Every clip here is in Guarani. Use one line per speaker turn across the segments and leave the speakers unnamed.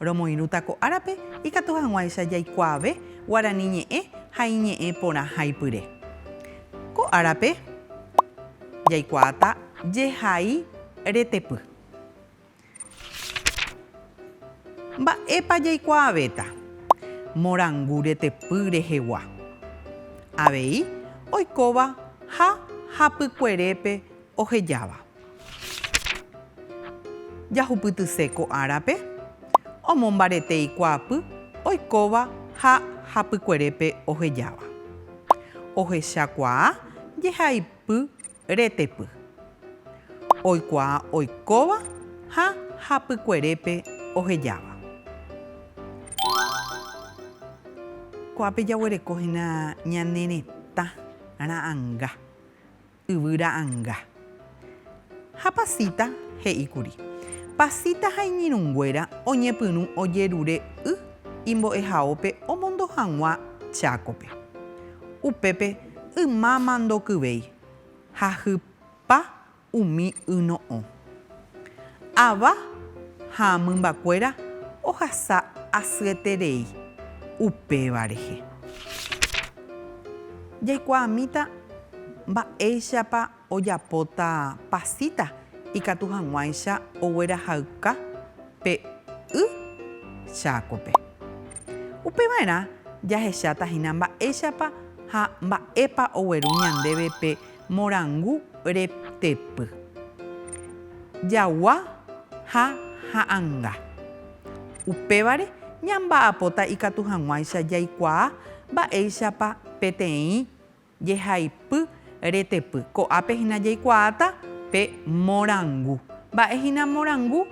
Romoirũta ko árape ikatu hag̃uáicha jaikuaave guarani ñe'ẽ ha iñe'ẽ porã haipyre. Ko árape jaikuaáta jehai retepy. Mba'épa jaikuaavéta morangu retepy rehegua? Avei oikóva ha hapykuerépe ohejáva. Jahupytyse ko árape omombarete ikuaapy oikóva ha hapykuerépe ohejáva. Ohechakuaa jehaipy retepy oikuaa oikóva ha hapykuerépe ohejáva. Ko'ápe jaguereko hína ñane retã ra'anga. Yvy ra'anga. Ha Pasita he'íkuri, Pasita ha iñirũnguéra oñepyrũ ojerure y imbo'ehaópe omondo hag̃ua Chákope. Upépe ymáma ndokyvéi ha hypa umi y no'õ. Ava ha mymbakuéra ohasa asyeterei upéva rehe. Jaikuaamíta mba'éichapa ojapóta pasíta ikatu hag̃uáicha oguerahayka pe y Chákope. Upeva'erã jahecháta hína mba'éichapa ha mba'épa ogueru ñandéve pe Morangu reptepy. Jagua ha ha'anga. Upévare ñamba'apóta ikatu hag̃uáicha jaikuaa mba'éichapa peteĩ jehaipy retepy. Ko'ápe hína jaikuaáta pe morangu. Mba'e hína morangu?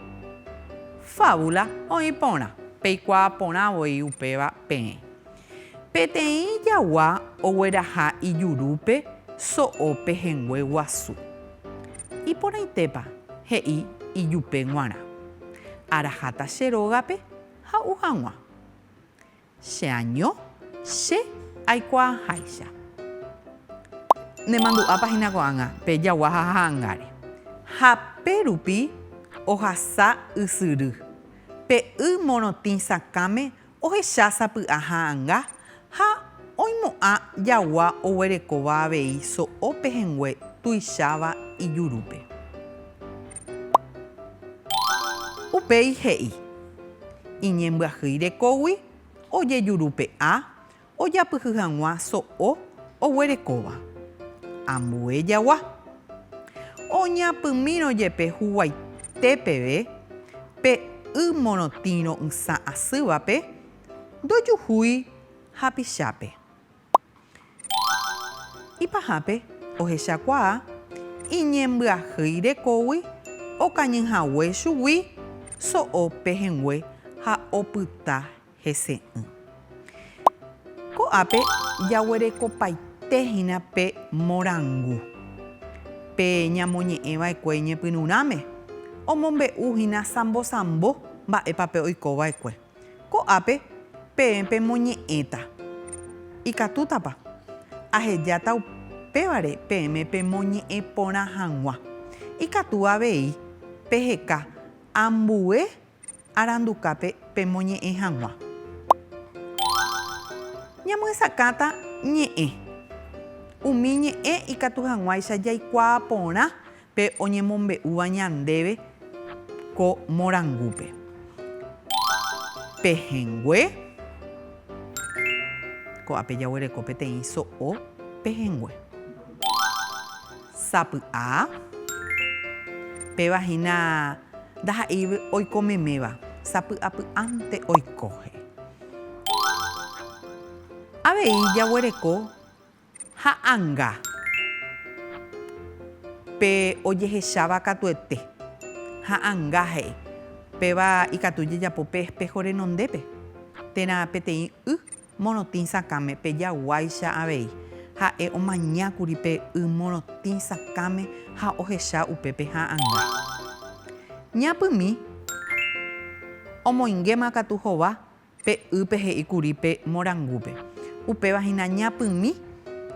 Fábula oĩ porã. Peikuaa porã voi upéva peẽ. Peteĩ jagua ogueraha ijurúpe so'o pehẽngue guasu. Iporãitépa, he'i ijupe g̃uarã. Araháta che rógape ha'u hag̃ua. Che año, che aikuaaháicha. Nemandu'ápa hína ko'ág̃a pe jagua ha ha'angáre. Ha pe rupi ohasa ysyry, pe y morotĩ sakãme Ohecha sapy'a ha'anga ha oimo'ã jagua oguerekóva avei so'o pehẽngue tuicháva ijurúpe. Upéi he'i, Iñembyahýi rekógui ojejurupe'a ojapyhy hag̃ua so'o oguerekóva. Ambue jagua. Oñapymírõ jepe huguaite peve pe y morotĩ ro'ysã asývape, ndojuhúi hapichápe. Ipahápe ohechakuaa iñembyahýi rekógui okañy hague chugui so'o pehẽngue ha opyta. hese'ỹ. Ko'ápe jaguerekopaite hína pe morangu pe ñamoñe'ẽva'ekue iñepyrũrãme, omombe'u hína sambosambo mba'épa pe oikova'ekue. Ko'ápe peẽ pemoñe'ẽta. Ikatútapa? Ahejáta upévare peẽme pemoñe'ẽ porã hag̃ua. Ikatu avei peheka ambue arandukápe pemoñe'ẽ hag̃ua. Ñamyesakãta ñe'ẽ. Umi ñe'ẽ ikatu hag̃uáicha jaikuaa porã pe oñemombe'úva ñandéve ko morangúpe. Pehẽngue, Ko'ápe jaguereko peteĩ so'o pehẽngue. Sapy'a. Péva hína ndaha'éi oiko meméva. Sapy'apy'ánte oikóhe. Avei jaguereko ha'anga pe ojehecháva katuete. Ha'anga he'i. Péva ikatu jejapo pe espého renondépe térã peteĩ y Morotĩ sakãme pe jaguáicha avei. Ha'e omaña kuri pe y morotĩ sakãme ha ohecha upépe ha'ãnga. Ñapymi. Omoingéma katu hova pe ýpe he'i kuri pe morangúpe. Upéva hína ñapymi,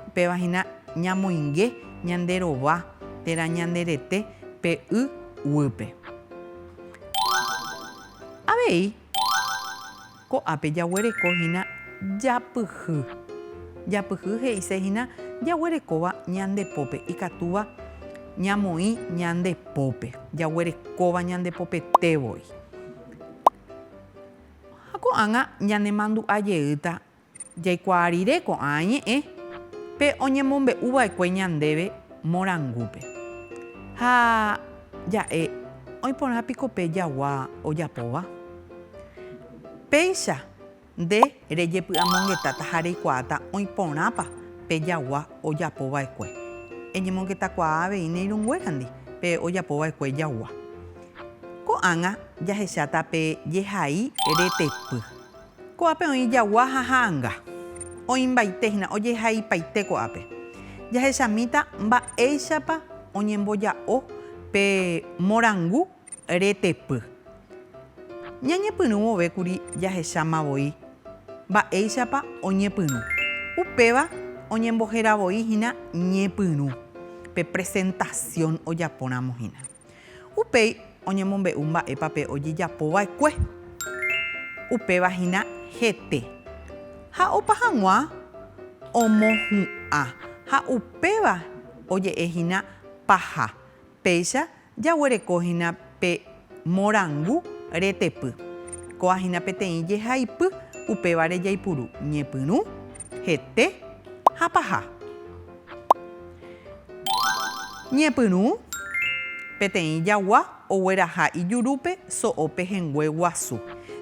upéva hína ñamoinge ñande rova térã ñande rete pe y guýpe. Avei Ko'ápe jaguereko hína japyhy. Japyhy he'ise hína jaguerekóva ñande pópe, ikatúva ñamoĩ ñande pópe, jaguerekóva ñande popete voi. Ha ko'ág̃a ñanemandu'a jeýta Jaikuaa rire ko'ã ñe'ẽ pe oñemombe'u va'ekue ñandéve morangúpe. Ha ja'e oĩporã piko pe jagua ojapóva? Péicha nde rejepy'amongetáta ha reikuaáta oĩporãpa pe jagua ojapo va'ekue. Eñemongetakuaa avei ne irũnguérandi pe ojapo va'ekue jagua. Ko'ág̃a jahecháta pe jehai retepy. Ko'ápe oĩ jagua ha ha'anga. Oĩmbaite hína, ojehaipaite ko'ápe. Jahechamíta mba'éichapa oñemboja'o pe morangu retepy. Ñañepyrũ vove kuri jahecháma voi mba'éichapa oñepyrũ. Upéva oñembohera voi hína ñepyrũ, pe presentasión ojapóramo hína. Upéi oñemombe'u mba'épa pe ojejapo va'ekue. Upéva hína hete. Ha opa hag̃ua omohu'ã ha upéva oje'e hína paha. Péicha jaguereko hína pe morangu retepy. Kóa hína peteĩ jehaipy upévare jaipuru ñepyrũ, hete ha paha. Ñepyrũ, Peteĩ jagua ogueraha ijurúpe so'o pehẽngue guasu.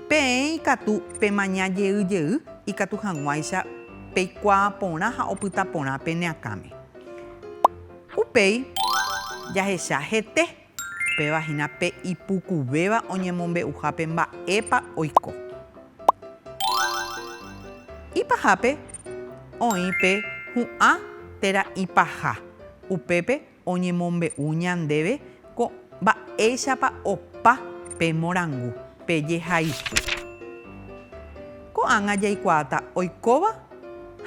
Peẽ ikatu pemaña jey jey ikatu hag̃uáicha peikuaa porã ha opyta porã pene akãme. Upéi jahecha hete. Péva hína pe ipukuvéva oñemombe'uhápe mba'épa oiko. Ipahápe oĩ pe hu'ã térã ipaha, upépe oñemombe'u ñandéve ko mba'éichapa opa pe morangu, pe jehayhu. Ko'ág̃a jaikuaáta oikóva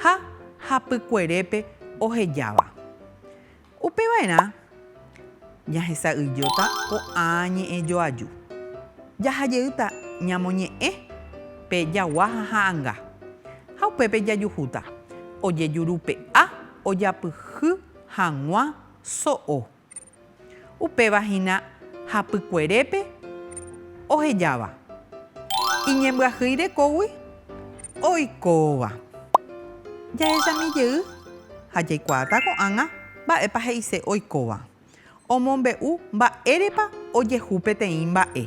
ha hapykuerépe ohejáva. Upeva'erã jahesa'ỹijóta ko'ã ñe'ẽ joaju. Jaha jeýta ñamoñe'ẽ pe jagua ha ha'anga, ha upépe jajuhúta ojejurupe'a ojapyhy hag̃ua so'o. Upéva hína hapykuerépe ohejáva, iñembyahýi rekógui. Oikóva. Jahechami jey ha jaikuaáta ko'ág̃a mba'épa he'ise oikóva. Omombe'u mba'érepa ojehu peteĩ mba'e.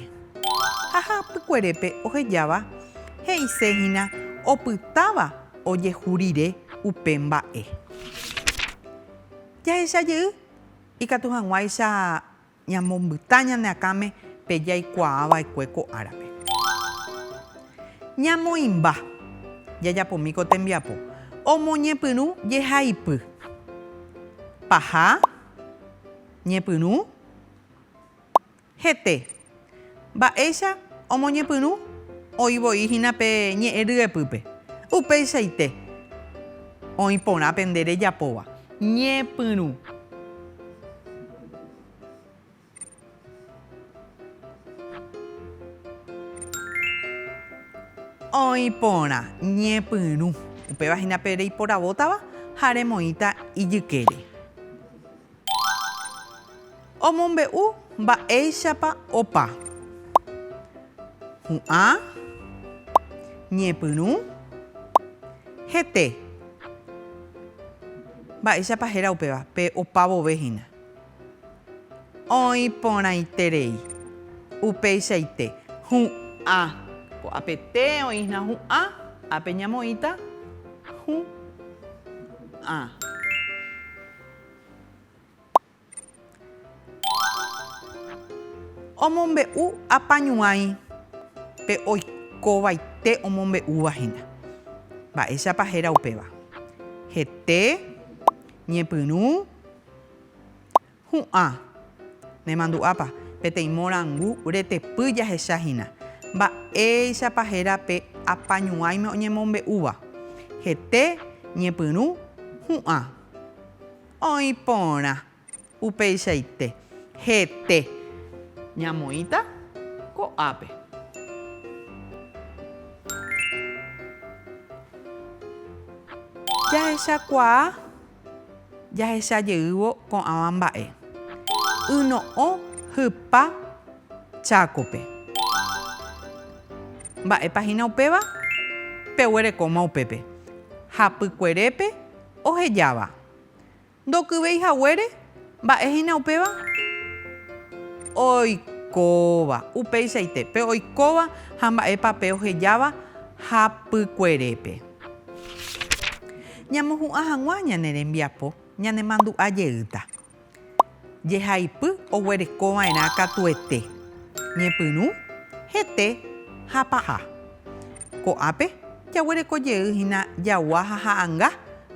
Ha hapykuerépe ohejáva he'ise hína opytáva ojehu rire upe mba'e. Jahecha jey ikatu hag̃uáicha Ñamombyta ñane akãme pe jaikuaa va'ekue ko árape. Ñamoĩmba. Jajapomi ko tembiapo. Omoñepyrũ jehaipy. Paha. Ñepyrũ. Hete. Mba'éicha omoñepyrũ? Oĩ voi hína pe ñe'ẽ ryepýpe. Upeichaite oĩ porã pende rejapóva. Ñepyrũ. Oĩ porã. Ñepyrũ. Upéva hína pe reiporavótava ha remoĩta ijykére. Omombe'u mba'éichapa opa. Hu'ã. Ñepyrũ. Hete. Mba'éichapa héra upéva, pe opa vove hína. Oĩ porãiterei. Upeichaite. Hu'ã. Ko apete oĩhna hu'ã, ápe ñamoĩta hu'. Ã. Omombe'u apañuãi pe oikovaite omombe'úva hína. Mba'éichapa héra upéva? Hete, ñepyrũ, hu'ã. Nemandu'ápa? Peteĩ morangu retepy jahecha hína. Mba'éichapa héra pe apañuãime oñemombe'úva? Hete, ñepyrũ, hu'ã. Oĩ porã. Upeichaite. Hete. Ñamoĩta ko'ápe. Jahechakuaa. Jahecha jeývo ko'ãva mba'e. Yno'õ hypa Chácope. Mba'épa hína upéva? Peguerekóma upépe. Hapykuerépe. ohejáva. Ndokyvéi haguére, mba'e hína upéva? Oikóva, upéichaite, pe oikóva ha mba'épa pe ohejáva hapykuerépe. Ñamohu'ã hag̃ua ñane rembiapo ñanemandu'a jeýta. Jehaipy oguerekova'erã katuete, ñepyrũ, hete ha paha. Ko'ápe jaguerekojey hína jagua ha ha'anga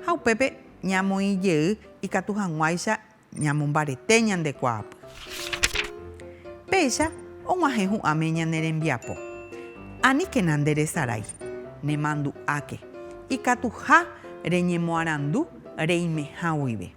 ha upépe ñamoĩjey ikatu hag̃uáicha ñamombarete ñande kuaapy. Péicha og̃uahẽ hu'ãme ñane rembiapo. Aníkena nde resarái, nemandu'áke, ikatuha reñemoarandu reimehã guive.